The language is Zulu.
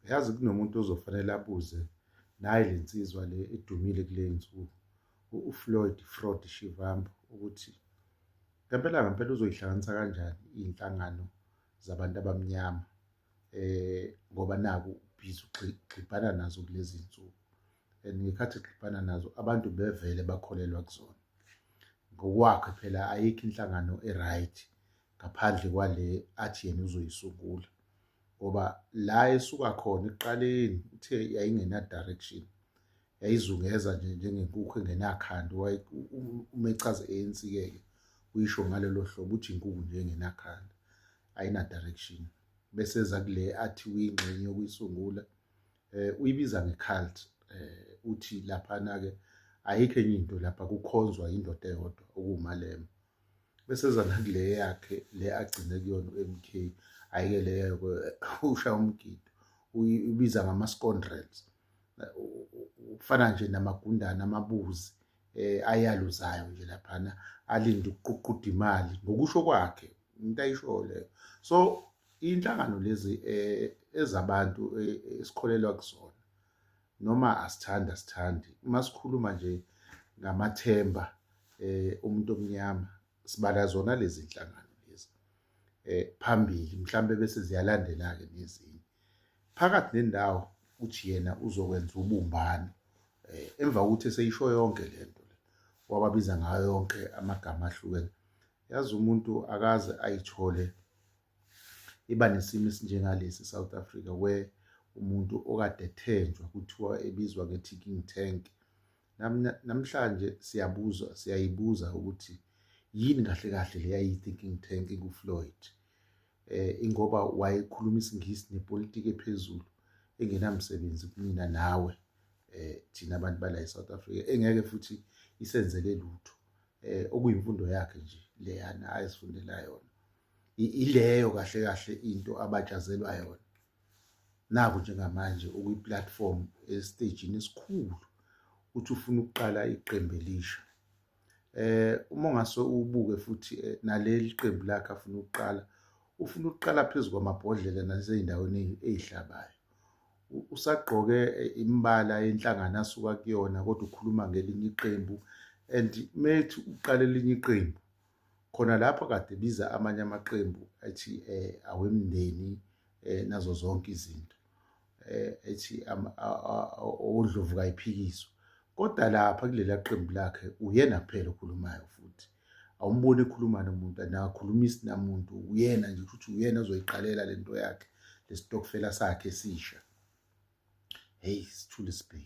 Yazi kunomuntu ozofanele abuze naye le nsizwa le edumile kule nsuku uFloyd Fraud Shivambu ukuthi ngempela ngempela uzoyihlanganisa kanjani iy'nhlangano zabantu abamnyama eh ngoba naku ubhizi ugxibhana nazo kulezi nsuku and ngekhathi egxibhana nazo abantu bevele bakholelwa kuzona ngokwakhe phela ayikho inhlangano e-right ngaphandle kwale athi yena uzoyisungula ngoba la esuka khona ekuqaleni uthe yayingena-direction yayizungeza nje njengenkukhu engenakhanda uma echaza i-ANC-ke ke uyisho ngalelo hlobo uthi inkukhu nje engenakhanda ayina-direction bese eza kule athi uyingxenye yokuyisungula um uyibiza nge-cult um uthi laphana-ke ayikho enye into lapha kukhonzwa yindoda eyodwa okuwumalema Bese eza nakule yakhe le agcine kuyona u-MK ayike le yakhe ushaya umgido uyibiza ngama-scoundrels ufana nje namagundane amabuzi eh ayaluzayo nje laphana alinde ukuququda imali ngokusho kwakhe into ayishoyo leyo so inhlangano lezi eh ezabantu eh, esikholelwa kuzona noma asithandi asithandi uma sikhuluma nje ngamathemba um umuntu omnyama sibala zona lezi nhlangano lezi um phambili mhlawumbe bese ziyalandela-ke nezinye phakathi nendawo uthi yena uzokwenza ubumbano um emva kokuthi eseyisho yonke le nto le wababiza ngayo yonke amagama ahlukene yazi umuntu akaze ayithole iba nesimo esinjengalesi South Africa where umuntu okade ethenjwa kuthiwa ebizwa nge-ticking tank namhlanje siyabuza siyayibuza ukuthi yini kahle kahle le yayi-thinking tank engufloyd eh ingoba wayekhuluma isingisi nepolitiki ephezulu engenamsebenzi kumina nawe eh thina abantu bala e-south africa engeke futhi isenzele lutho eh okuyimfundo yakhe nje leyana ayizifundela yona ileyo kahle kahle into abajazelwa yona naku njengamanje ukwi-platform esitejini esikhulu uthi ufuna ukuqala iqembu elisha eh uma ngase ubuke futhi eh, naleli qembu lakhe afuna ukuqala ufuna ukuqala phezu kwamabhodlela nasezindaweni ezihlabayo usagqoke eh, imbala yenhlangano asuka kuyona kodwa ukhuluma ngelinye iqembu and methi uqala elinye iqembu khona lapho kade biza amanye amaqembu ethi eh, awemndeni eh, nazo zonke izinto eh, ethi odlovu kayiphikiswa kodwa lapha kulela qembu lakhe uyena kuphela okhulumayo futhi awumboni ekhuluma nomuntu anakhulumisi namuntu uyena nje futhi uyena ozoyiqalela lento yakhe lesitokfela sakhe esisha hey sithule sibheke